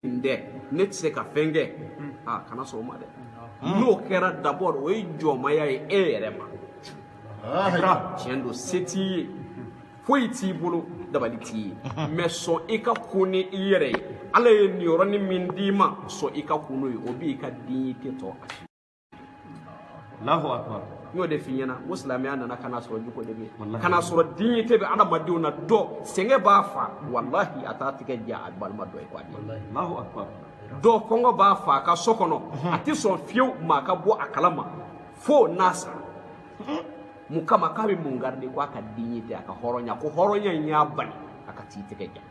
nin tɛ ne tɛ se ka fɛn kɛ aa kana sɔn o ma dɛ n'o kɛra d'abord o ye jɔnmaya ye e yɛrɛ ma tiɲɛ don se t'i ye foyi t'i bolo dabali t'i ye mais sɔn i ka kun ni i yɛrɛ ye ala ye niyɔrɔni min d'i ma sɔn i ka kun n'o ye o b'i ka dignité to a Allahu akbar n y'o de f'i ɲɛna n ko silamɛya nana ka na sɔrɔ jogo de bɛ yen ka na sɔrɔ dignité bɛ adamadenw na dɔ sɛgɛn b'a fa walahi a t'a tigɛ ja a balima dɔ ye ko a di Allahu akbar dɔ kɔngɔ b'a fa a ka so kɔnɔ a tɛ sɔn fiyewu maa ka bɔ a kalama fo n'a sara mun kama k'a bɛ mun garder ko a ka dignité a ka hɔrɔnya ko hɔrɔnya in y'a bali a ka t'i tigɛ ja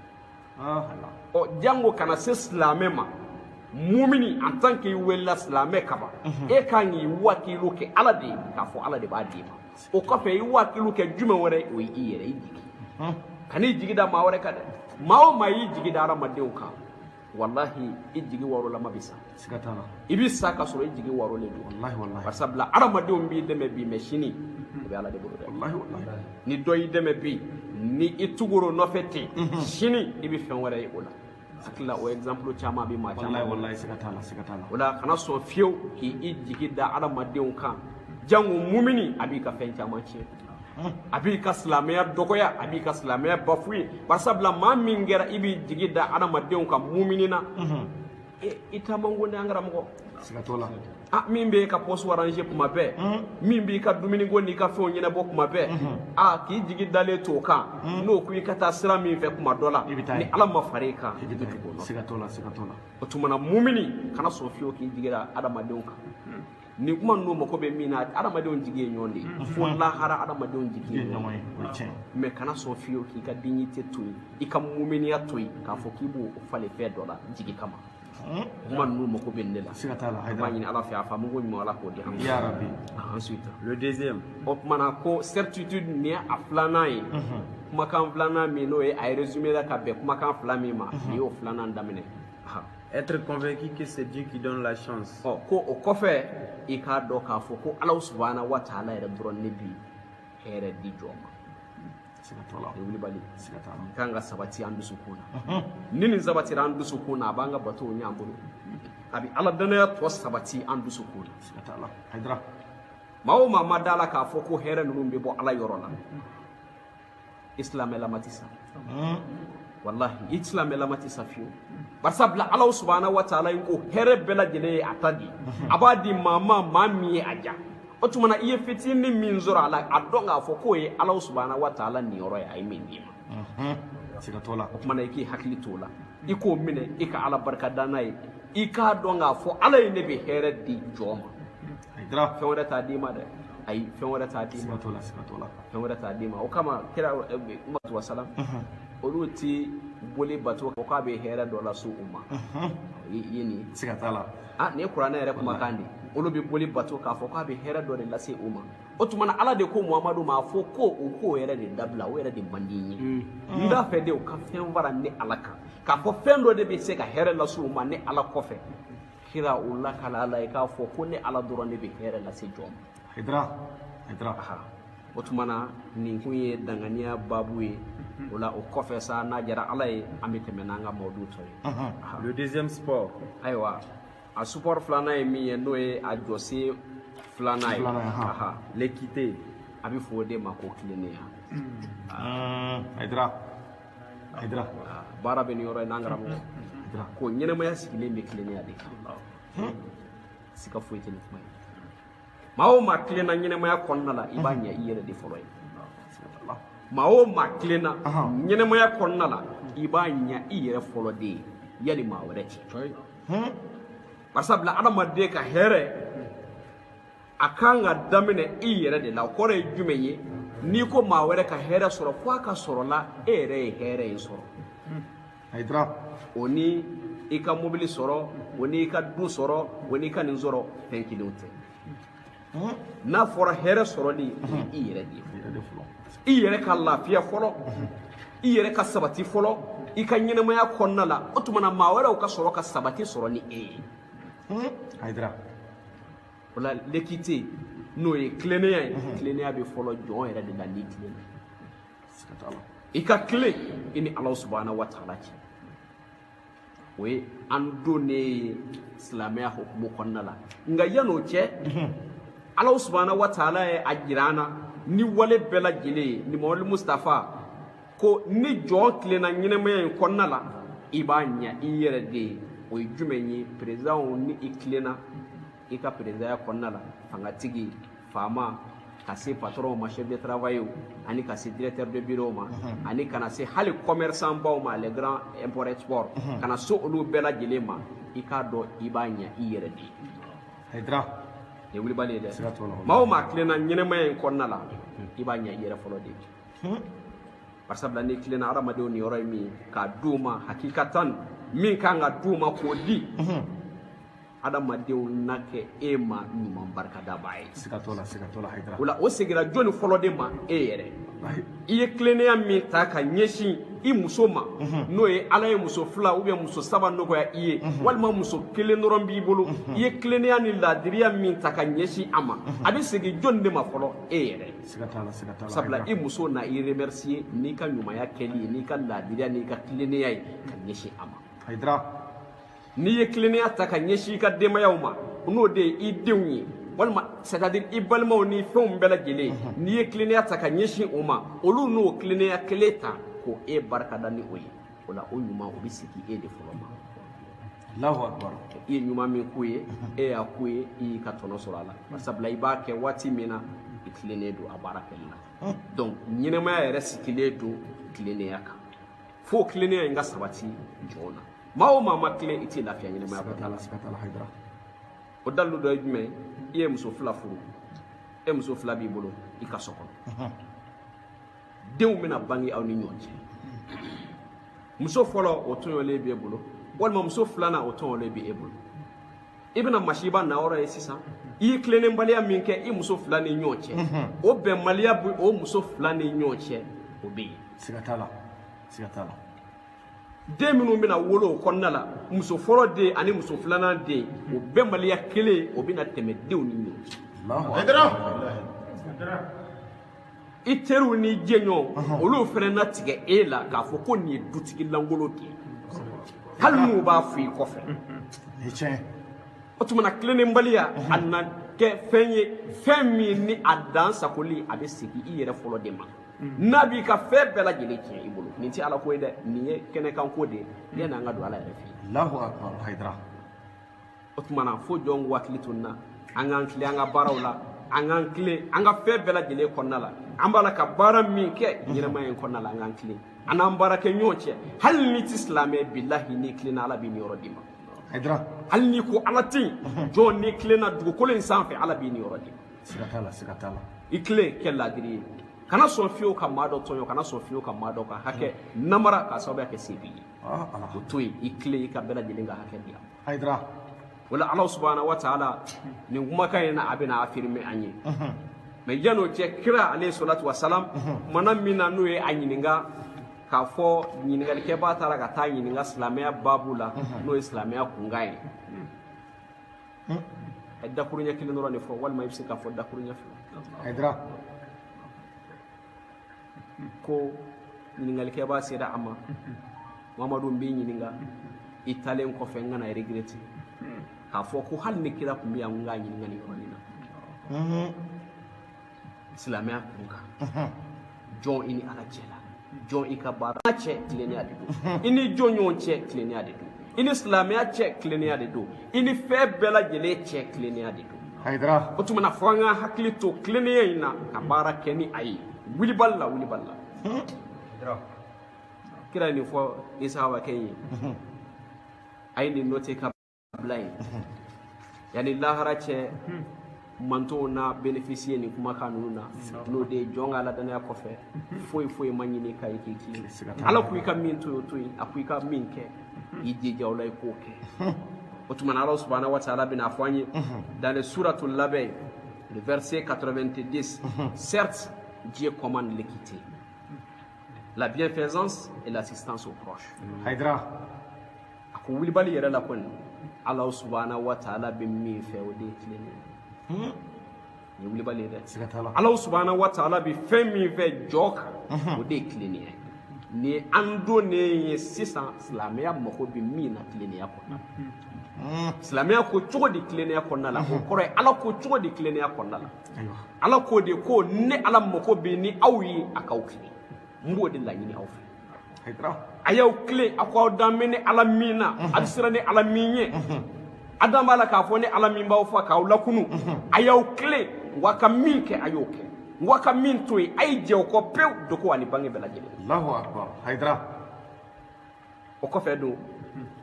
ɔ jango kana se silamɛ ma mumini en tant que i welela silamɛ kaban mhm. e kan k'i wakilu kɛ ala de ye k'a fɔ ala de b'a d'i ma o kɔfɛ i wakilu kɛ jumɛn wɛrɛ o ye i yɛrɛ i jigi mhm. kan'i jigi da maa wɛrɛ kan dɛ maa o maa y'i jigi da hadamadenw kan walahi i jigi warolama bɛ sa i bɛ sa ka sɔrɔ i jigi warolen don barisabula adamadenw b'i dɛmɛ bi mais sini o bɛ ala de bolo dɛ ni dɔ y'i dɛmɛ bi ni i tugur'o nɔfɛ ten mhm. sini i bɛ fɛn wɛrɛ ye o la hakilila o exemple caman bɛ maa caman wallahi siga t'a la siga t'a la o la kana sɔn fiyewu k'i i jigi da adamadenw kan jango mumini a b'i ka fɛn caman tiɲɛ a b'i ka silamɛya dɔgɔya a b'i ka silamɛya bafouer barisabula maa min kɛra i b'i jigi da adamadenw kan mumini na mhm. i taman ko n'an karamɔgɔ siga t'a la a min b'i ka poste arranger kuma bɛɛ min b'i ka dumuni ko n'i ka fɛnw ɲɛnabɔ kuma bɛɛ a k'i jigi dalen to o kan n'o ko i ka taa sira min fɛ kuma dɔ la ni ala ma fara i kan i bɛ tugu o nɔ siga t'a la siga t'a la o tuma na mumini kana sɔn fiyewu k'i jigi da adamadenw kan nin kuma ninnu mako bɛ min na adamadenw jigi ye ɲɔgɔn de ye mm-hmm. fo lahara adamadenw jigi ye ɲɔgɔn ye mais kana sɔn fiyewu k'i ka dignité to yen i ka muminiya to yen k'a fɔ k'i b'o falen fɛn dɔ la jigi kama mm-hmm. kuma ninnu mako bɛ an de la siga t'a la b'a ɲini ala fɛ a faamu ko ɲuman ala k'o di an ma ya rabi ah, ensuite le deuxième o tumana ko certitude nin ye a filanan ye mm-hmm. kumakan filanan min n'o ye a ye résumé la ka bɛn kumakan fila min ma nin y'o filanan daminɛ Être convaincu que c'est Dieu qui donne la chance. Oh, ko o kɔfɛ i k'a dɔn k'a fɔ ko Ala subahana wa taala yɛrɛ dɔrɔn ne bi hɛrɛ di jɔn ma. Siga t'a la. O ye wulibali. Siga t'a la. Kan ka sabati an dusukun na. Ni nin sabatira an dusukun na a b'an ka batow ɲɛ an bolo. A bɛ Ala danaya to sabati an dusukun na. Siga t'a la. Hayidara. Maa o maa ma d'a la k'a fɔ ko hɛrɛ ninnu bɛ bɔ Ala yɔrɔ la. i silamɛlama tɛ sa walahi i silamɛlama tɛ sa fiyewu barisabula alahu subahana wa taala ye ko hɛrɛ bɛɛ lajɛlen ye a ta de a b'a di maa ma maa min ye a ja o tuma na i ye fitinin min sɔrɔ a la a dɔn k'a fɔ k'o ye alahu subahana wa taala niyɔrɔ ye a ye min d'i ma siga t'o la o tuma na i k'i hakili t'o la i k'o minɛ i ka ala barika da n'a ye i k'a dɔn k'a fɔ ala ye ne bɛ hɛrɛ di jɔn ma hayidara fɛn wɛrɛ t'a d'i ma dɛ ayi fɛn wɛrɛ t'a d'i ma siga t'o la siga t'o la fɛn wɛrɛ t'a d'i ma o kama kira umatu wasalam olu ti boli bato ko k'a bɛ hɛrɛ dɔ lase u ma i ye nin ye siga t'a la ah nin ye kuranɛ yɛrɛ kumakan de ye olu bɛ boli bato k'a fɔ k'a bɛ hɛrɛ dɔ de lase u ma o tuma na ala de ko muhamadu ma a fɔ ko u k'o yɛrɛ de dabila o yɛrɛ de man di n ye n t'a fɛ de u ka fɛn fara ne ala kan k'a fɔ fɛn dɔ de bɛ se ka hɛrɛ lase u ma ne ala kɔfɛ kira o lakali ala ye k'a fɔ ko ne ala dɔrɔn de bɛ hɛrɛ lase jɔn ma hayidara hayidara o tuma na nin kun ye danganiya baabu ye o la o kɔfɛ sa n'a jara ala ye an bɛ tɛmɛ n'an ka mawdu tɔ ye le deuxième support ayiwa a support filanan ye min ye n'o ye a jɔsen filanan ye l'équité a bɛ fɔ o de ma ko tilennenya hayidara baara bɛ nin yɔrɔ in na n karamɔgɔ ko ɲɛnɛmaya sigilen bɛ tilennenya de kan siga foyi tɛ nin kuma ye maa o maa tilenna ɲɛnɛmaya kɔnɔna la i b'a ɲa i yɛrɛ de fɔlɔ ye maa o maa tilenna ɲɛnɛmaya kɔnɔna la i b'a ɲa i yɛrɛ fɔlɔ de ye yali maa wɛrɛ cɛ barisabula adamaden ka hɛrɛ a kan ka daminɛ i yɛrɛ de la o kɔrɔ ye jumɛn ye n'i ko maa wɛrɛ ka hɛrɛ sɔrɔ fo a ka sɔrɔ la e yɛrɛ ye hɛrɛ in sɔrɔ hayidara o ni i ka mobili sɔrɔ o ni i ka du sɔrɔ o ni i ka nin sɔrɔ fɛn kelenw tɛ n'a fɔra hɛrɛ sɔrɔli i yɛrɛ de ye i yɛrɛ ka lafiya fɔlɔ i yɛrɛ ka sabati fɔlɔ i ka ɲɛnɛmaya kɔnɔna la o tuma na maa wɛrɛw ka sɔrɔ ka sabati sɔrɔ ni e ye hayidara o la l'équité n'o ye tilennenya ye tilennenya bɛ fɔlɔ jɔn yɛrɛ de la n'i tilenna i ka tilen i ni ala subahana wa taala cɛ o ye an donnen ye silamɛya hukumu kɔnɔna la nka yan'o cɛ ala subahana wa taala ye a jira an na ni wale bɛɛ lajɛlen ye nimawali mustafa ko ni jɔn tilenna ɲɛnɛmaya in kɔnɔna la i b'a ɲa i yɛrɛ de ye o ye jumɛn ye peresidanw ni i tilenna i ka peresidanya kɔnɔna la fangatigi faama ka se patɔrɔnw ma chef de travail ani ka se directeur de bureau ma mhm. ani ka na se hali commerçant baw ma les grands import export mhm. ka na se olu bɛɛ lajɛlen ma i k'a dɔn i b'a ɲa i yɛrɛ de ye nin ye wulibali ye dɛ maa o maa tilenna ɲɛnɛmaya in kɔnɔna la i b'a ɲa i yɛrɛ fɔlɔ de ye barisabula n'i tilenna hadamadenw niyɔrɔ ye min k'a d'u ma hakikatan min kan ka d'u ma k'o di hadamadenw na kɛ e ma ɲuman barikadabaa ye o la o segira jɔni fɔlɔ de ma e yɛrɛ i ye tilennenya min ta ka ɲɛsin i muso ma n'o ye ala ye muso fila ou bien muso saba nɔgɔya i ye walima muso kelen dɔrɔn b'i bolo i ye tilennenya ni laadiriya min ta ka ɲɛsin a ma a bɛ segin jɔni de ma fɔlɔ e yɛrɛ sabula i muso na i remercier n'i ka ɲumanya kɛli ye n'i ka laadiriya n'i ka tilennenya ye ka ɲɛsin a ma Haidara n'i ye tilennenya ta ka ɲɛsin i ka denbayaw ma n'o de ye i denw ye walima c'est à dire i balimaw ni fɛnw bɛɛ lajɛlen n'i ye tilennenya ta ka ɲɛsin o ma olu n'o tilennenya kelen ta k'o e barikada ni o ye o la o ɲuman o bɛ segin e de fɔlɔ ma Allahu akbar i ye ɲuman min k'u ye e y'a k'u ye i y'i ka tɔnɔ sɔrɔ a la bari sabula i b'a kɛ waati min na i tilennen don a baara kɛli la donc ɲɛnamaya yɛrɛ sigilen don tilennenya kan fo tilennenya in ka sabati jɔn na maa o maa ma tilen i tɛ lafiya ɲɛnamaya kɔnɔ siga t'a la siga t'a la Haidara o dalilu dɔ ye jumɛn ye i ye muso fila furu e muso fila b'i bolo i ka so kɔnɔ denw bɛna bange aw ni ɲɔgɔn cɛ muso fɔlɔ o tɔɲɔlen b'e bolo walima muso filanan o tɔɲɔlen bɛ e bolo i bɛna masiba nayɔrɔ ye sisan i ye tilennenbaliya min kɛ i muso fila ni ɲɔgɔn cɛ o bɛnbaliya bɛ o muso fila ni ɲɔgɔn cɛ o bɛ yen siga t'a la siga t'a la den minnu bɛna wolo o kɔnɔna la muso fɔlɔ den ani muso filanan den o bɛnbaliya kelen o bɛna tɛmɛ denw ni ɲɔgɔn cɛ i teriw ni jɛɲɔgɔn olu fana na tigɛ e la k'a fɔ ko nin ye dutigi lankolon de ye hali n'u b'a fɔ i kɔfɛ o tuma na tilennenbaliya a na kɛ fɛn ye fɛn min ni a dan sagoli a bɛ segin i yɛrɛ fɔlɔ de ma n'a b'i ka fɛn bɛɛ lajɛlen tiɲɛ i bolo nin tɛ ala ko ye dɛ nin ye kɛnɛkanko de ye yanni an ka don ala yɛrɛ fɛ yen. o tumana fo jɔnw k'u hakili to nin na an k'an tilen an ka baaraw la an k'an tilen an ka fɛn bɛɛ lajɛlen kɔnɔna la an b'a la ka baara min kɛ ɲɛnamaya in kɔnɔna la an k'an tilen an n'an baarakɛɲɔgɔn cɛ hali n'i tɛ silamɛ bilahi n'i tilenna ala b'i niyɔrɔ d'i ma Haidara. hali n'i ko ala tɛ yen jɔn n'i tilenna dugukolo in sanfɛ ala b'i niyɔrɔ d'i ma Siga t'a la, siga t'a la. i tilen kɛ laadiri ye kana sɔn fiyewu ka maa dɔ tɔɲɔ kana sɔn fiyewu ka maa dɔ ka hakɛ namara k'a sababuya kɛ se b'i ye Ah, ah. o to yen i tilen i ka bɛɛ lajɛlen ka hakɛ di a ma haidara o la ala subhana wa ta'ala nin kumakan in na a bɛna affirmer an ye mais yan'o cɛ kira alayhi salatu wa salam kumana min na n'o ye a ɲininka k'a fɔ ɲininkalikɛbaa taara ka taa ɲininka silamɛya baabu la n'o ye silamɛya kunkan ye a ye dakuruɲɛ kelen dɔrɔn de fɔ walima i bɛ se k'a fɔ dakuruɲɛ fila haidara ko ɲininkalikɛbaa sera a ma mamadu n b'i ɲininka i taalen kɔfɛ n kana regretter k'a fɔ ko hali ni kira tun bɛ yan n k'a ɲininka nin yɔrɔnin na silamɛya kun kan jɔn i ni ala cɛ la jɔn i ka baara cɛ tilennenya de don i ni jɔn ɲɔgɔn cɛ tilennenya de don i ni silamɛya cɛ tilennenya de don i ni fɛn bɛɛ lajɛlen cɛ tilennenya de don hayidara o tuma na fo an ka hakili to tilennenya in na ka baara kɛ ni a ye wulibali la wulibali la kira ye nin fɔ nin sahabakɛ ye a ye nin noter ka bila yen yanni lahara cɛ mantɔn na bénéficier nin kumakan ninnu na n'o de ye jɔn ka ala dannaya kɔfɛ foyi foyi ma ɲini ka ye k'i tilen ala ko i ka min to yen o to yen a ko i ka min kɛ i jija o la i k'o kɛ o tuma na ala subahanahu wa taala bɛna fɔ an ye dans le sourate l'abeille le verset 90 certes Dieu commande l'équité la bienfaisance et l'assistance aux proches Haïdara a ko wulibali yɛrɛ la kɔni ala subahanahu wa taala bɛ min fɛ o de ye tilennenya ye hmm? nin ye wulibali ye dɛ ala subahanahu wa taala bɛ fɛn min fɛ jɔn kan hmm. o de ye tilennenya ye nin an donnen ye sisan silamɛya mago bɛ min na tilennenya kɔnɔna la hmm. silamɛya ko cogo di tilennenya kɔnɔna la o kɔrɔ ye ala ko cogo di tilennenya kɔnɔna la ala ko de ko ne ala mago bɛ ni aw ye a k'aw tilen n b'o de laɲini aw fɛ a y'aw tilen a ko aw dan bɛ ne ala min na a bɛ siran ne ala min ɲɛ a dan b'a la k'a fɔ ne ala min b'aw faa k'aw lakunu a y'aw tilen ko a ka min kɛ a y'o kɛ ko a ka min to yen a ye jɛ o kɔ pewu dogo ani bange bɛɛ lajɛlen alahu akbar hayidara o kɔfɛ don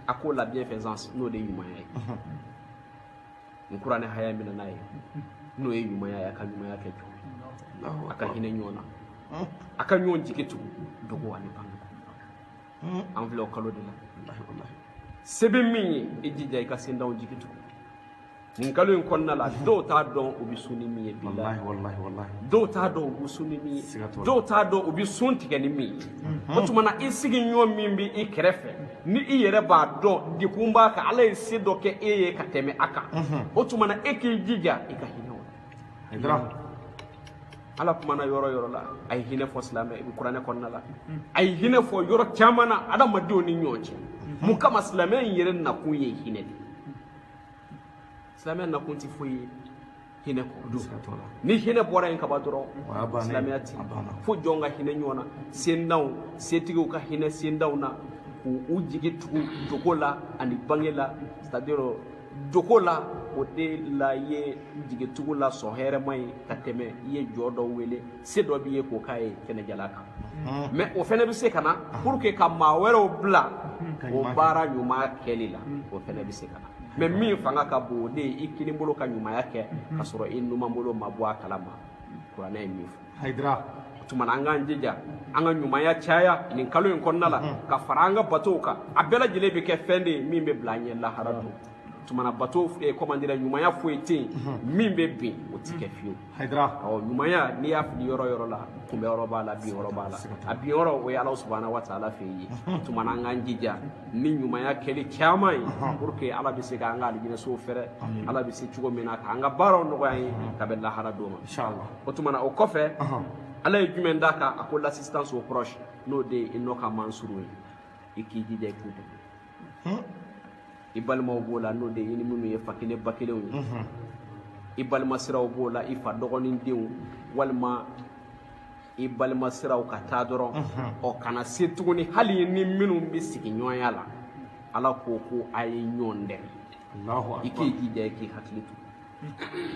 a ko la bienfaisance n'o de ye ɲumanya ye n kuranɛ haya min nana ye n'o ye ɲumanya ye a ka ɲumanya kɛ cogo a ka hinɛ ɲɔgɔn na a ka ɲɔgɔn jigi tugu dogo ani bange an filɛ o kalo de la se bɛ min ye i jija i ka sentanw jigi tugu nin kalo in kɔnɔna la dɔw t'a dɔn u bɛ sun ni min ye bilahi dɔw t'a dɔn u bɛ sun ni min ye dɔw t'a dɔn u bɛ sun tigɛ ni min ye o tuma na i sigiɲɔgɔn min bɛ i kɛrɛfɛ ni i yɛrɛ b'a dɔn degun b'a kan ala ye se dɔ kɛ e ye ka tɛmɛ a kan o tuma na e k'i jija i ka hinɛ o la ala kumana yɔrɔ yɔrɔ la a ye hinɛ fɔ silamɛ i bɛ kuranɛ kɔnɔna la a ye hinɛ fɔ yɔrɔ caman na adamadenw ni ɲɔgɔn cɛ mun kama silamɛ in yɛrɛ nakun ye hinɛ de ye silamɛ nakun tɛ foyi ye hinɛ kɔ ni hinɛ bɔra yen kaban dɔrɔn silamɛya ti fo jɔn ka hinɛ ɲɔgɔn na sentanw setigiw ka hinɛ sentanw na k'u jigi tugu dogo la ani bange la c'est à dire dogo la o de la i ye jigitugu la sɔn hɛrɛma ye ka tɛmɛ i ye jɔn dɔ wele se dɔ b'i ye k'o k'a ye kɛnɛjala kan hmm. mais o fɛnɛ bɛ se ka na hmm. pour que ka maa wɛrɛw bila hmm. o baara ɲuman kɛli la o fɛnɛ bɛ se ka na mais min fanga ka bon o de ye i kinin bolo ka ɲumanya kɛ ka sɔrɔ i numan bolo ma bɔ a kala ma kuranɛ ye min fɔ hayidara o tuma na an k'an jija an ka ɲumanya caya nin kalo in kɔnɔna la ka fara an ka batow kan a bɛɛ lajɛlen bɛ kɛ fɛn de ye min bɛ bila an ɲɛ lahara don o tuma na bato comment dire ɲumanya foyi tɛ yen min bɛ bin o tɛ kɛ fiyewu Hayidara ɔ ɲumanya n'i y'a fili yɔrɔ yɔrɔ la kunbɛn yɔrɔ b'a la bin yɔrɔ b'a la a bin yɔrɔ o ye ala subahana wa taala fɛ ye tuma na an k'an jija ni ɲumanya kɛli caman ye pour que ala bɛ se k'an ka alijinɛsow fɛrɛ ala bɛ se cogo min na k'an ka baaraw nɔgɔya ye ka bɛn lahara don ma o tuma na o kɔfɛ ala ye jumɛn d'a kan a ko l'assistance aux proches n'o de ye i nɔ ka mansuru ye i k'i jija i k'u dɛmɛ i balimaw b'o la n'o de ye i ni minnu ye fa kelen ba kelenw ye i balima siraw b'o la i fa dɔgɔnin denw walima i balima siraw ka taa dɔrɔn ɔ ka na se tuguni hali ni minnu bɛ sigiɲɔgɔnya la ala ko ko a ye ɲɔgɔn dɛmɛ i k'i jija i k'i hakili to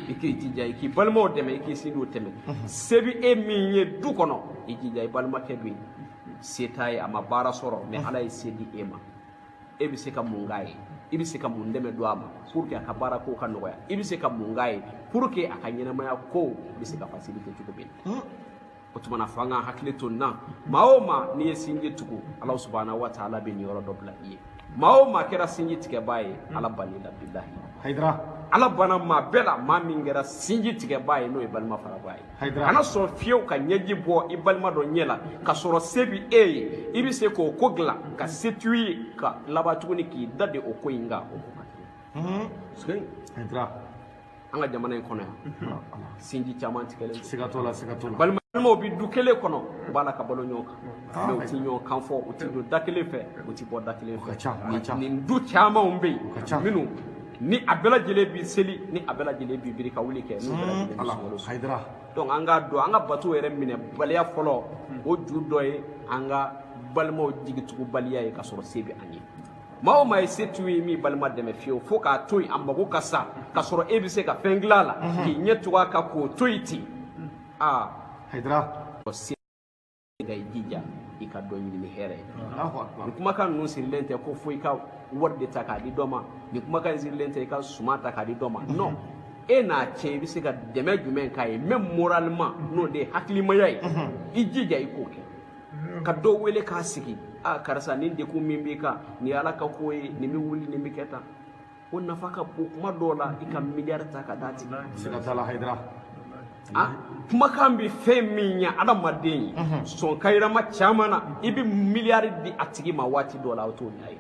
i k'i jija i k'i balimaw dɛmɛ i k'i sinjiw dɛmɛ se bɛ e min ye du kɔnɔ i jija i balimakɛ bɛ yen se t'a ye a ma baara sɔrɔ mais ala ye se di e ma e bɛ se ka mun k'a ye i bɛ se ka mun dɛmɛ don a ma pour que a ka baara ko ka nɔgɔya i bɛ se ka mun k'a ye pour que a ka ɲɛnamaya ko bɛ se ka facilité cogo min na o tuma na fo an k'an hakili to nin na maa o maa n'i ye sinji tugu ala subahana wa taala bɛ niyɔrɔ dɔ bila i ye maa o maa kɛra sinji tigɛbaa ye ala bann'i la bilahi hayidara ala banna maa bɛɛ la maa min kɛra sinji tigɛbaa ye n'o ye balima farabaa ye Hayidara. kana sɔn fiyew ka ɲɛji bɔ i balima dɔ ɲɛ la ka sɔrɔ se bi e ye i bɛ se k'o ko dilan ka se t'u ye ka laban tuguni k'i da de o ko in kan o ko ka kɛ. hayidara an ka jamana in kɔnɔ yan sinji caman tigɛlen siga t'o la siga t'o la balimaw bɛ du kelen kɔnɔ u b'a la ka balo ɲɔgɔn kan mais u tɛ ɲɔgɔn kan fɔ u tɛ don da kelen fɛ u tɛ bɔ da kelen fɛ nin du camanw bɛ yen minnu ni a bɛɛ lajɛlen bi seli ni a bɛɛ lajɛlen bi biri ka wuli kɛ n'u bɛɛ lajɛlen hayidara donc an k'a dɔn an ka bato yɛrɛ minɛ baliya fɔlɔ o ju dɔ ye an ka balimaw jigitugubaliya ye ka sɔrɔ se bɛ an ye maa o maa ye setigi ye min balima dɛmɛ fiyewu fo k'a to yen a mago ka sa k'a sɔrɔ e bɛ se ka fɛn dilan a la mhm. k'i ɲɛ tugu a kan k'o to yen ten mhm. aa hayidara se ka i jija i ka dɔ ɲini ni hɛrɛ ye nin kumakan ninnu sirilen tɛ ko fo i ka wari de ta k'a di dɔ ma nin kumakan in sirilen tɛ i ka suma ta k'a di dɔ ma mhm. non e n'a cɛ i bɛ se ka dɛmɛ jumɛn k'a ye même moralement n'o de ye hakilimaya ye i jija i k'o kɛ ka dɔ wele k'a sigi a karisa nin degun min b'i kan nin ye ala ka ko ye nin bɛ wuli nin bɛ kɛ tan o nafa ka bon kuma dɔw la i ka miliyari ta ka d'a tigi ma siga t'a la hayidara a kumakan bɛ fɛn min ɲɛ adamaden ye sɔn kayirama caman na i bɛ miliyari di a tigi ma waati dɔ la o t'o ɲɛ ye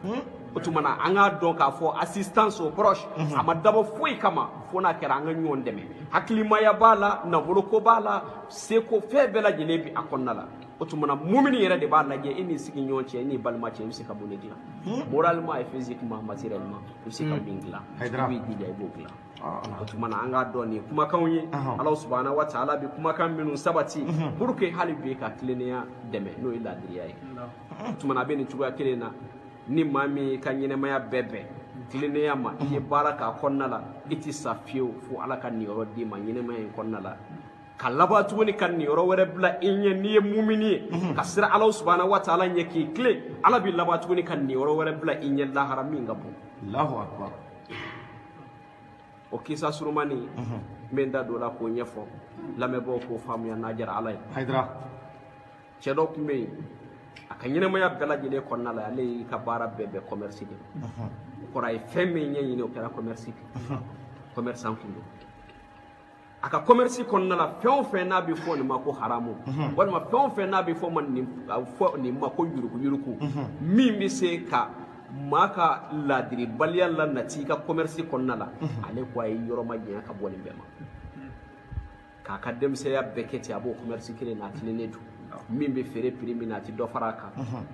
Hmm? o tuma na an k'a dɔn k'a fɔ assistance aux proches mhm. a ma dabɔ foyi kama fo n'a kɛra an ka ɲɔgɔn dɛmɛ hakilimaya b'a la nafoloko b'a la seko fɛn bɛɛ lajɛlen bɛ a kɔnɔna la o tuma na mumini yɛrɛ de b'a lajɛ e n'i sigiɲɔgɔn cɛ e n'i balima cɛ i bɛ se ka mun de dilan hmm? moralement et physiquement matériellement i bɛ se ka hmm. min dilan i b'i jija i b'o dilan o tuma na an k'a dɔn nin kumakanw ye ala subahana wa taala bɛ kumakan minnu sabati pour que hali bi ka tilennenya dɛmɛ n'o ye laadiriya ye o tuma na a bɛ nin cogoya kelen na ni maa min y'i ka ɲɛnɛmaya bɛɛ bɛn tilennenya ma i ye baara k'a kɔnɔna la i tɛ sa fiyewu fo ala ka niyɔrɔ d'i ma ɲɛnɛmaya in kɔnɔna la ka laban tuguni ka niyɔrɔ wɛrɛ bila i ɲɛ n'i ye mumini ye ka siran ala subahana wa taala ɲɛ k'i tilen ala bɛ laban tuguni ka niyɔrɔ wɛrɛ bila i ɲɛ lahara min ka bon o kisa surumani n bɛ n da don o la k'o ɲɛfɔ lamɛnbaaw k'o faamuya n'a diyara ala ye cɛ dɔ tun bɛ yen a ka ɲɛnɛmaya bɛɛ lajɛlen kɔnɔna la ale y'i ka baara bɛɛ bɛn commerce de ma o kɔrɔ a ye fɛn min ɲɛɲini o kɛra commerce de commerçant tun don a ka commerce kɔnɔna la fɛn o fɛn n'a bɛ fɔ nin ma ko haramu mhm. walima fɛn o fɛn n'a bɛ fɔ nin fɔ nin ma ko yuruku yuruku mhm. min bɛ se ka maa ka laadiribaliya la nati i ka commerce kɔnɔna la mhm. ale ko a ye yɔrɔ majanya ka bɔ nin bɛɛ ma k'a ka denmisɛnya bɛɛ kɛ ten a b'o commerce kelen na a tilennen don min bɛ feere prix min na a tɛ dɔ fara a kan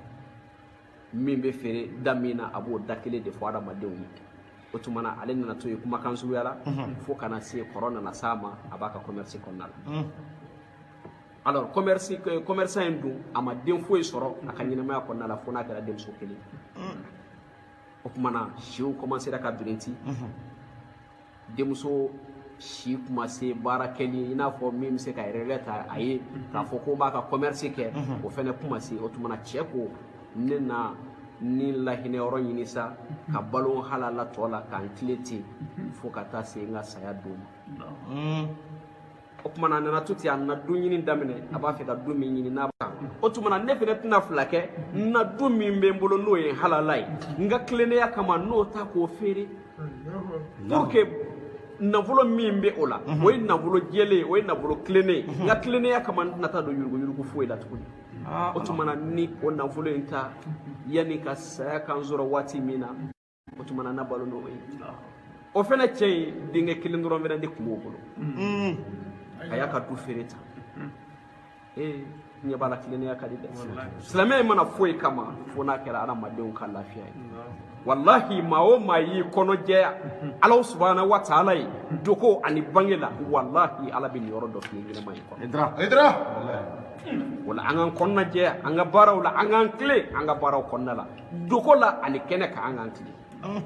min bɛ feere da min na a b'o da kelen de fɔ adamadenw ye o tuma na ale nana to yen kumakan suguya la fo ka na se kɔrɔ nana s'a ma a b'a ka commerce kɔnɔna la alors commerce commerçant in dun a ma den foyi sɔrɔ a ka ɲɛnamaya kɔnɔna la fo n'a kɛra denmuso kelen o tuma na siw commencera ka birinti denmuso si tun ma se baara kɛli i n'a fɔ min bɛ se ka relais ta a ye k'a fɔ k'o b'a ka commerce kɛ o fɛnɛ tun ma se o tuma na cɛ ko ne na ni lahinɛ yɔrɔ ɲini sa ka balo halala tɔ la ka n tilen ten fo ka taa se n ka saya don ma o tuma na a nana to ten a nana du ɲini daminɛ a b'a fɛ ka du min ɲini n'a kan o tuma na ne fɛnɛ tɛna fila kɛ n na du min bɛ n bolo n'o ye halala ye n ka tilennenya kama n'o ta k'o feere pour que nafolo min bɛ o la o ye nafolo jɛlen ye o ye nafolo tilennen ye n ka tilennenya kama n tɛna taa don yuruguyurugu foyi la tuguni o tuma na ni o nafolo in ta yanni ka saya ka n sɔrɔ waati min na o tuma na n na balo n'o ye o fɛnɛ cɛ in denkɛ kelen dɔrɔn fɛnɛ de tun b'o bolo a y'a ka du feere ta ee ɲɛ b'a la tilennenya ka di dɛ silamɛya ma na foyi kama fo n'a kɛra adamadenw ka lafiya ye walahi maa o maa y'i kɔnɔ jɛya ala subahana wa taala ye dogo ani bange la walahi ala bɛ niyɔrɔ dɔ fini ɲɛnamaya kɔnɔ o la an k'an kɔnɔna jɛya an ka baaraw la an k'an tilen an ka baaraw kɔnɔna la dogo la ani kɛnɛ kan an k'an tilen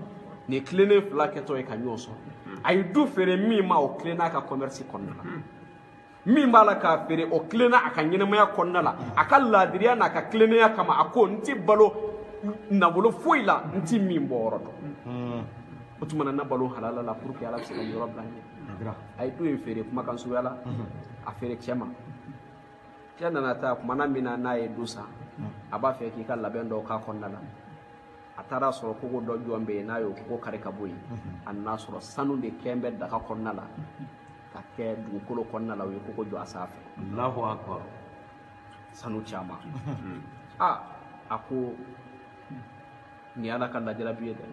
nin tilennen fila kɛtɔ ye ka ɲɔgɔn sɔrɔ a ye du feere min ma o tilenna a ka kɔmɛrisi kɔnɔna la min b'a la k'a feere o tilenna a ka ɲɛnɛmaya kɔnɔna la a ka laadiriya n'a ka tilennenya kama a ko n ti balo nafolo foyi la n ti min bɔyɔrɔ dɔn o tuma na n na balo halala la pour que ala bɛ se ka yɔrɔ bila n ɲɛ a ye du in feere kumakan suguya la a feere cɛ ma cɛ nana taa kumana min na n'a ye du san a b'a fɛ k'i ka labɛn dɔw k'a kɔnɔna la a taara sɔrɔ kogo dɔ jɔn bɛ yen n'a y'o kogo kari ka bɔ yen a nana sɔrɔ sanu de kɛn bɛ daga kɔnɔna la ka kɛ dugukolo kɔnɔna la u ye kogo jɔ a sanfɛ alahu akbar sanu caman a a ko nin ye ala ka lajarabi ye dɛ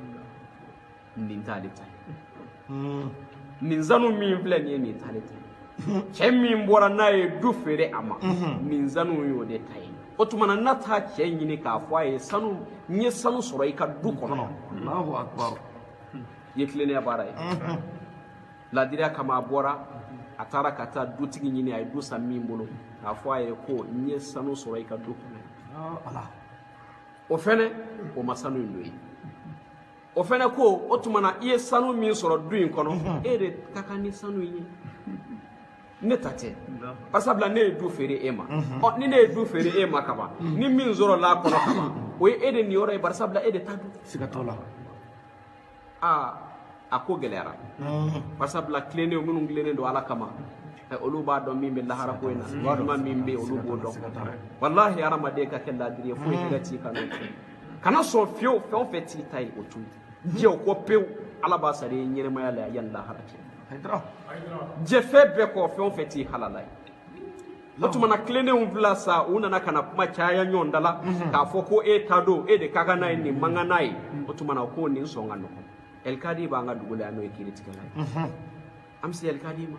nin t'ale ta ye nin sanu min filɛ nin ye nin t'ale ta ye cɛ min bɔra n'a ye du feere a ma nin sanu y'o de ta ye o tuma na n'a taa cɛ ɲini k'a fɔ a ye sanu n ye sanu sɔrɔ i ka du kɔnɔ alahu akubaru i ye tilennenya baara ye laadiriya kama a bɔra a taara ka taa dutigi ɲini a ye du san min bolo k'a fɔ a ye ko n ye sanu sɔrɔ i ka du kɔnɔ ala o fɛnɛ o ma sanu in don yen o fɛnɛ ko o tuma na i ye sanu min sɔrɔ du in kɔnɔ e de ka kan ni sanu in ye ne ta tɛ barisabula ne ye du feere e ma ɔ ni ne ye du feere e ma kaban ni min sɔrɔla a kɔnɔ kaban o ye e de niyɔrɔ ye barisabula e de ta don siga t'o la aa a ko gɛlɛyara barisabula tilennenw minnu tilennen don ala kama ɛ, olu b'a dɔn min bɛ lahara ko in na walima min bɛ yen olu b'o dɔn walahi hadamaden ka kɛ laadiri ye foyi tɛ ka ci i kan n'o tɛ kana sɔn fiyewu fɛn o fɛn t'i ta ye o to yen jɛ o kɔ pewu ala b'a sara i ye ɲɛnamaya la yanni lahara cɛ jɛ fɛn bɛɛ kɔ fɛn o fɛn t'i halala ye o tuma na tilennenw fila sa u nana ka na kuma caya ɲɔgɔn da la k'a fɔ ko e ta don e de ka kan n'a ye ne man kan n'a ye o tuma na ko nin sɔn ka nɔgɔn ɛlikadi b'an ka dugu la yan n'o ye kiiritigɛla ye an bɛ se ɛlikadi ma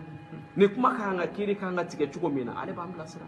ni kuma ka kan ka kiiri ka kan ka tigɛ cogo min na ale b'an bilasira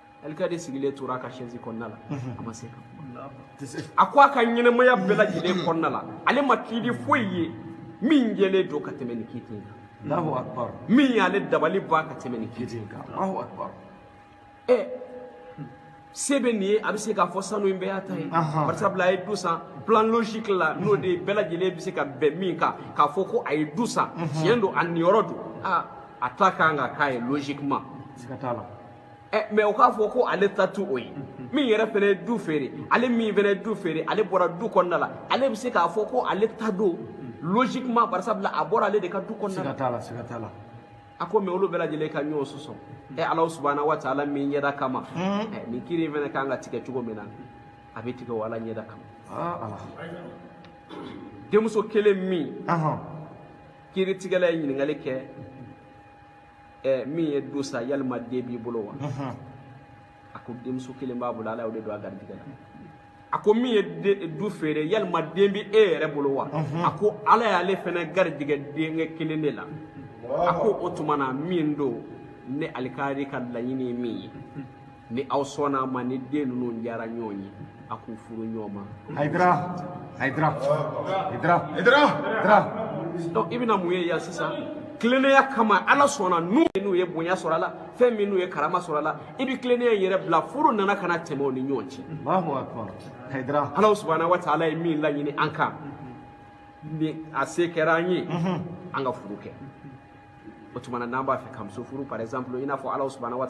alikadi sigilen tora a ka sɛzi kɔnɔna la a ma se ka a ko a ka ɲɛnamaya bɛɛ lajɛlen kɔnɔna la ale ma kiiti foyi ye min jɛlen don ka tɛmɛ nin kiiti in kan allahu akbar min y'ale dabali ban ka tɛmɛ nin kiiti in kan allahu akbar ɛ se bɛ nin ye a bɛ se k'a fɔ sanu in bɛɛ y'a ta ye barisabula a ye du san plan logique la n'o de bɛɛ lajɛlen bɛ se ka bɛn min kan k'a fɔ ko a ye du san tiɲɛ don a niyɔrɔ don aa a ta ka kan ka k'a ye logiquement siga t'a la ɛ mais o k'a fɔ ko ale ta t'o ye min yɛrɛ fɛnɛ ye du feere ale min fɛnɛ ye du feere ale bɔra du kɔnɔna la ale bɛ se k'a fɔ ko ale ta don logiquement bari sabula a bɔra ale de ka du kɔnɔna la siga t'a la siga t'a la a ko mais olu bɛɛ lajɛlen ka ɲɔgɔn sɔsɔ ɛ alahu subahana wa taala min ɲɛda kama ɛ nin kiiri in fɛnɛ ka kan ka tigɛ cogo min na a bɛ tigɛ o ala ɲɛda kama aa ala denmuso kelen min ɔhɔn kiritigɛla ye ɲininkali kɛ ɛ min ye du san yalima den b'i bolo wa a ko denmuso kelen b'a bolo ala y'o de don a garijɛgɛ la a ko min ye du feere yalima den bɛ e yɛrɛ bolo wa a ko ala y'ale fɛnɛ garijɛgɛ denkɛ kelen de la a ko o tuma na min don ne alikadi ka laɲini ye min ye ni aw sɔnna a ma ni den ninnu diyara ɲɔgɔn ye a k'u furu ɲɔgɔn ma hayidara hayidara hayidara hayidara hayidara donc i bɛna mun ye yan sisan tilennenya kama ala sɔnna n'u ye bonya sɔrɔ a la fɛn min n'u ye karama sɔrɔ a la i bɛ tilennenya in yɛrɛ bila furu nana ka na tɛmɛ u ni ɲɔgɔn cɛ alahu akbar hayidara ala subahana wa taala ye min laɲini an kan ni a se kɛra an ye an ka furu kɛ o tuma na n'an b'a fɛ ka muso furu par exemple i n'a fɔ ala subahana wa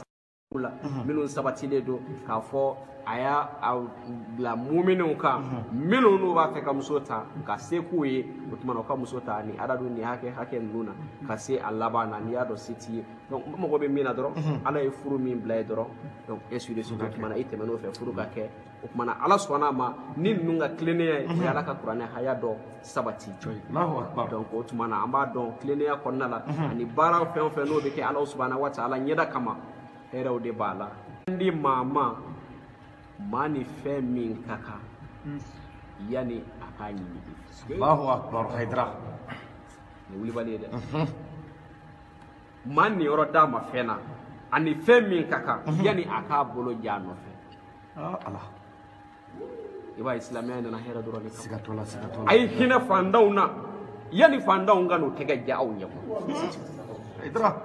la minnu sabatilen don k'a fɔ a y'a bila muminenw kan minnu n'u b'a fɛ ka muso ta ka se k'u ye o tumana u ka muso ta ni adadu ni hakɛ hakɛ ninnu na ka se a laban na n'i y'a dɔn se t'i ye donc n mago bɛ min na dɔrɔn ala ye furu min bila yen dɔrɔn donc ainsi de suite o tumana i tɛmɛn'o fɛ furu ka kɛ o tumana ala sɔnna a ma ni ninnu ka tilennenya ye o ye ala ka kuranɛ haya dɔ sabati donc o tumana an b'a dɔn tilennenya kɔnɔna la ani baara fɛn o fɛn n'o bɛ kɛ ala subahana wa taala ɲɛda kama hɛrɛw de b'a la di maa ma maa ni fɛn min ka kan yani a k'a ɲini allahu akbar hayidara nin wulibali ye dɛ maa niyɔrɔ d'a ma fɛn na ani fɛn min ka kan yani a k'a bolo ja a nɔfɛ aa ala i b'a ye silamɛya nana hɛrɛ dɔrɔn de kama siga t'o la siga t'o la a ye hinɛ fantanw na yanni fantanw ka n'u tɛgɛ ja aw ɲɛ hayidara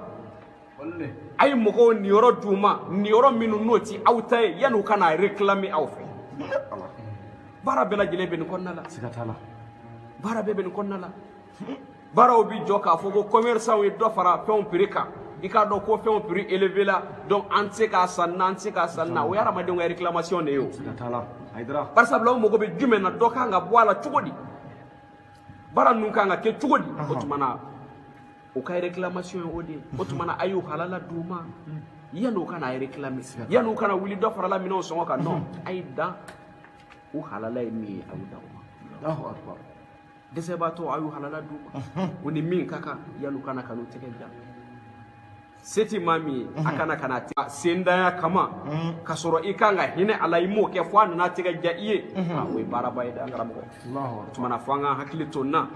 a ye mɔgɔw niyɔrɔ d'u ma niyɔrɔ minnu n'o ti aw ta ye yanni u ka n'a réclamer aw fɛ baara bɛɛ lajɛlen bɛ nin kɔnɔna la siga t'a la baara bɛɛ bɛ nin kɔnɔna la baaraw bi jɔ k'a fɔ ko commerçantw ye dɔ fara fɛnw prix kan i k'a dɔn ko fɛnw prix élevé la donc an tɛ se k'a san na an tɛ se k'a san na o ye hadamadenw ka réclamation de ye o barisabula u mago bɛ jumɛn na dɔ kan ka bɔ a la cogo di baara ninnu kan ka kɛ cogo di o tuma na u ka réclamation ye o de ye o tuma na a y'u halala d'u ma yanni u ka n'a réclamer yanni u ka na wuli dɔ farala minɛnw sɔngɔ kan non a ye dan u halala ye min ye a y'u dan o ma dɛsɛbaatɔ a y'u halala d'u ma u ni min ka kan yan'u ka na ka n'u tɛgɛ ja se tɛ maa min ye a mhm. kana kana taa sentanya kama mhm. ka sɔrɔ i kan ka hinɛ a la i m'o kɛ fo a nana tɛgɛ ja i ye mhm. ah, o ye baaraba ye dɛ an karamɔgɔ o tumana fo an ka hakili to n na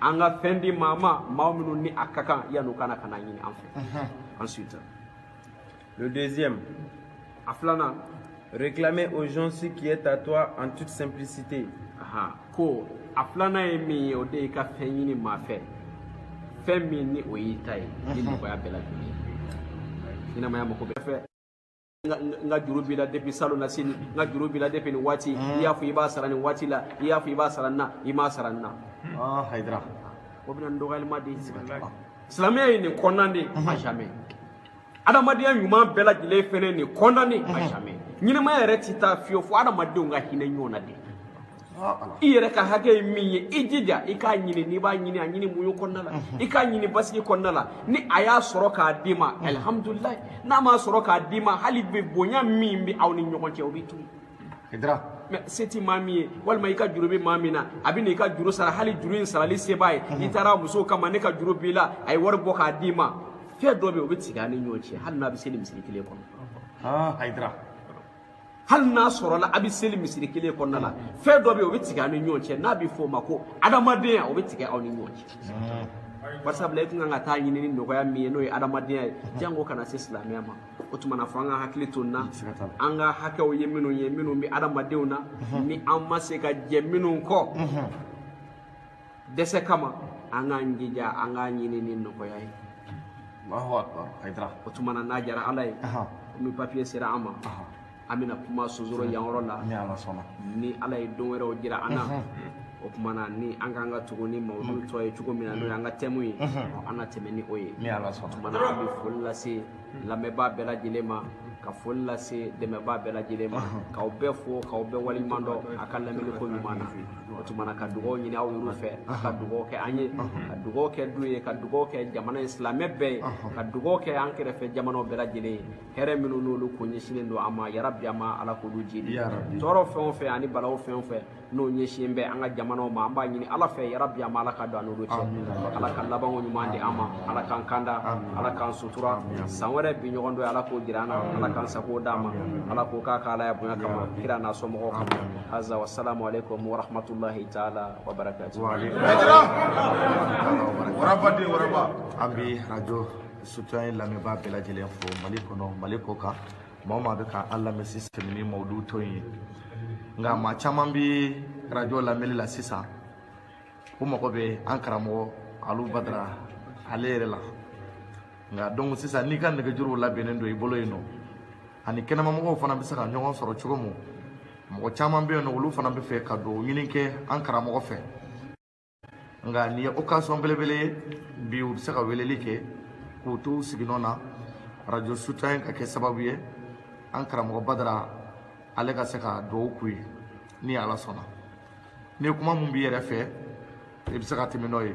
an ka fɛn di maa ma maa minnu ni a ka kan yan'u ka na ka n'a ɲini an fɛ ensuite Le deuxième, a filanan réclamer aux gens ce qui est à toi en toute simplicité. Aha, ko a filanan ye min ye o de y'i ka fɛn ɲini maa fɛ fɛn min ni o y'i ta ye ni nɔgɔya bɛɛ lajɛlen ye ɲɛnamaya mako bɛ fɛ n ka juru b'i la depuis salonnasini n ka juru b'i la depuis nin waati i y'a fɔ i b'a sara nin waati la i y'a fɔ i b'a sara nin na i m'a sara nin na ah hayidara o bɛna ni dɔgɔyalima de ye silamɛya ye nin kɔn an na de à jamais adamadenya ɲuman bɛɛ lajɛlen fɛnɛ nin kɔn an na de à jamais ɲɛnamaya yɛrɛ ti taa fiyewu fo adamadenw ka hinɛ ɲɔgɔn na de i yɛrɛ ka hakɛ ye min ye i jija i k'a ɲini n'i b'a ɲini a ɲini muɲu kɔnɔna la i k'a ɲini basigi kɔnɔna la ni a y'a sɔrɔ k'a d'i ma alihamudulilayi n'a m'a sɔrɔ k'a d'i ma hali bi bonya min bɛ aw ni ɲɔgɔn cɛ o bɛ to yen se t'i maa min ye walima i ka juru bɛ maa min na a bɛ na i ka juru sara hali juru in sarali se b'a ye n'i taara muso kama ne ka juru b'i la a ye wari bɔ k'a d'i ma fɛn dɔ bɛ yen o bɛ tigɛ aw ni ɲɔgɔn cɛ hali n'a bɛ seli misiri kelen kɔnɔ hayidara hali n'a sɔrɔla a bɛ seli misiri kelen kɔnɔna la fɛn dɔ bɛ yen o bɛ tigɛ aw ni ɲɔgɔn cɛ n'a bɛ f'o ma ko adamadenya o bɛ tigɛ aw ni ɲɔgɔn cɛ barisabula i tun kan ka t'a ɲini ni nɔgɔya min ye n'o ye adamadenya ye jango kana se silamɛya ma o tumana fo an ka hakili to na an ka hakɛw ye minnu ye minnu bɛ adamadenw na mhm. ni an ma se ka jɛn minnu kɔ mhm. dɛsɛ kama an k'an jija an k'a ɲini ni nɔgɔya ye o tumana n'a jara ala ye komi papier sera an ma an bɛna kuma sonsoro yan yɔrɔ la ni ala sɔnna ni ala ye don wɛrɛw jira an na o tuma na ni an ka kan ka tugu ni mawudu tɔ ye cogo min na n'o y'an ka tɛmu ye an na tɛmɛ ni o ye ni ala sɔnna tuma na an bɛ foli lase lamɛnbaa bɛɛ lajɛlen ma ka foli lase dɛmɛbaa bɛɛ lajɛlen ma k'aw bɛɛ fo k'aw bɛɛ waleɲuman dɔn a ka lamɛnni ko ɲuman na o tuma na ka dugaw ɲini aw yɛrɛw fɛ a ka dugaw kɛ an ye ka dugaw kɛ du ye ka dugaw kɛ jamana in silamɛ bɛɛ ye ka dugaw kɛ an kɛrɛfɛ jamanaw bɛɛ lajɛlen ye hɛrɛ minnu n'olu ko ɲɛsinnen don an ma yarabi an ma ala k'olu jidi tɔɔrɔ fɛn o fɛn ani balaw fɛn o fɛn n'o ɲɛsinnen bɛ an ka jamanaw ma an b'a ɲini ala fɛ yarabi an ma ala ka don an n'olu cɛ ala ka labanko ɲuman di an ma ala k'an kanda ala k'an sutura san wɛrɛ bi ɲɔgɔn dɔ ala k'o jira an na ala k'an sago d'a ma ala k'o k'a ka alaya bonya kama kira n'a sɔmɔgɔw kama haza wasalamu alaikum warahmatullahi taala wabarakatuh waraba de waraba an bi arajo soutien lamɛnbaa bɛɛ lajɛlen fo mali kɔnɔ mali kɔ kan maa o maa bɛ ka an lamɛn sisan tɛmɛ ni mawudu tɔ ye nka maa caman bɛ arajo lamɛnni la sisan u mago bɛ an karamɔgɔ alu badara ale yɛrɛ la nka donc sisan n'i ka nɛgɛjuruw labɛnnen don i bolo yen nɔ ani kɛnɛmamɔgɔw fana bɛ se ka ɲɔgɔn sɔrɔ cogo min mɔgɔ caman bɛ yen nɔ olu fana bɛ fɛ ka dugaw ɲini kɛ an karamɔgɔ fɛ nka nin ye occasion belebele ye bi u bɛ se ka weleli kɛ k'u to u siginɔ na radio soutien ka kɛ sababu ye an karamɔgɔ badara ale ka se ka dugawu k'u ye ni ala sɔnna ni kuma min b'i yɛrɛ fɛ i bɛ se ka tɛmɛ n'o ye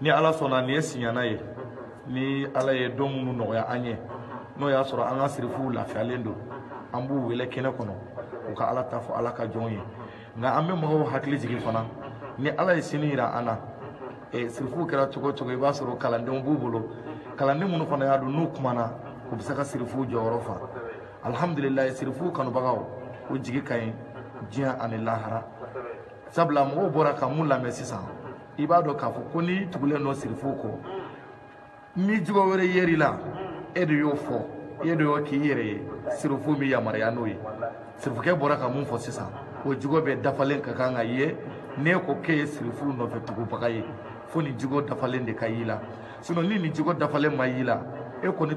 ni ala sɔnna nin ye siɲɛna ye ni ala ye don minnu nɔgɔya an ye n'o y'a sɔrɔ an ka sirifuw lafiyalen don an b'u wele kɛnɛ kɔnɔ u ka ala ta fɔ ala ka jɔnw ye nka an bɛ mɔgɔw hakili jigin fana ni ala ye sini yira an na e, sirifuw kɛra cogo o cogo i b'a sɔrɔ kalandenw b'u bolo kalanden minnu fana y'a dɔn n'u kumana u bɛ se ka sirifuw jɔyɔrɔ fa alihamudulilayi sirifuw kanubagaw o jigi ka ɲi diɲɛ ani lahara sabula mɔgɔw bɔra ka mun lamɛn sisan i b'a dɔn k'a fɔ ko n'i tugulen don sirifu kɔ ni jogo wɛrɛ yer'i la e de y'o fɔ e de y'o k'i yɛrɛ ye sirifu min yamaruya n'o ye sirifukɛ bɔra ka mun fɔ sisan o jogo bɛɛ dafalen ka kan ka ye n'e ko k'e ye sirifu nɔfɛ tugubaga ye fo nin jogo dafalen de ka y'i la sinon ni nin jogo dafalen ma y'i la e kɔni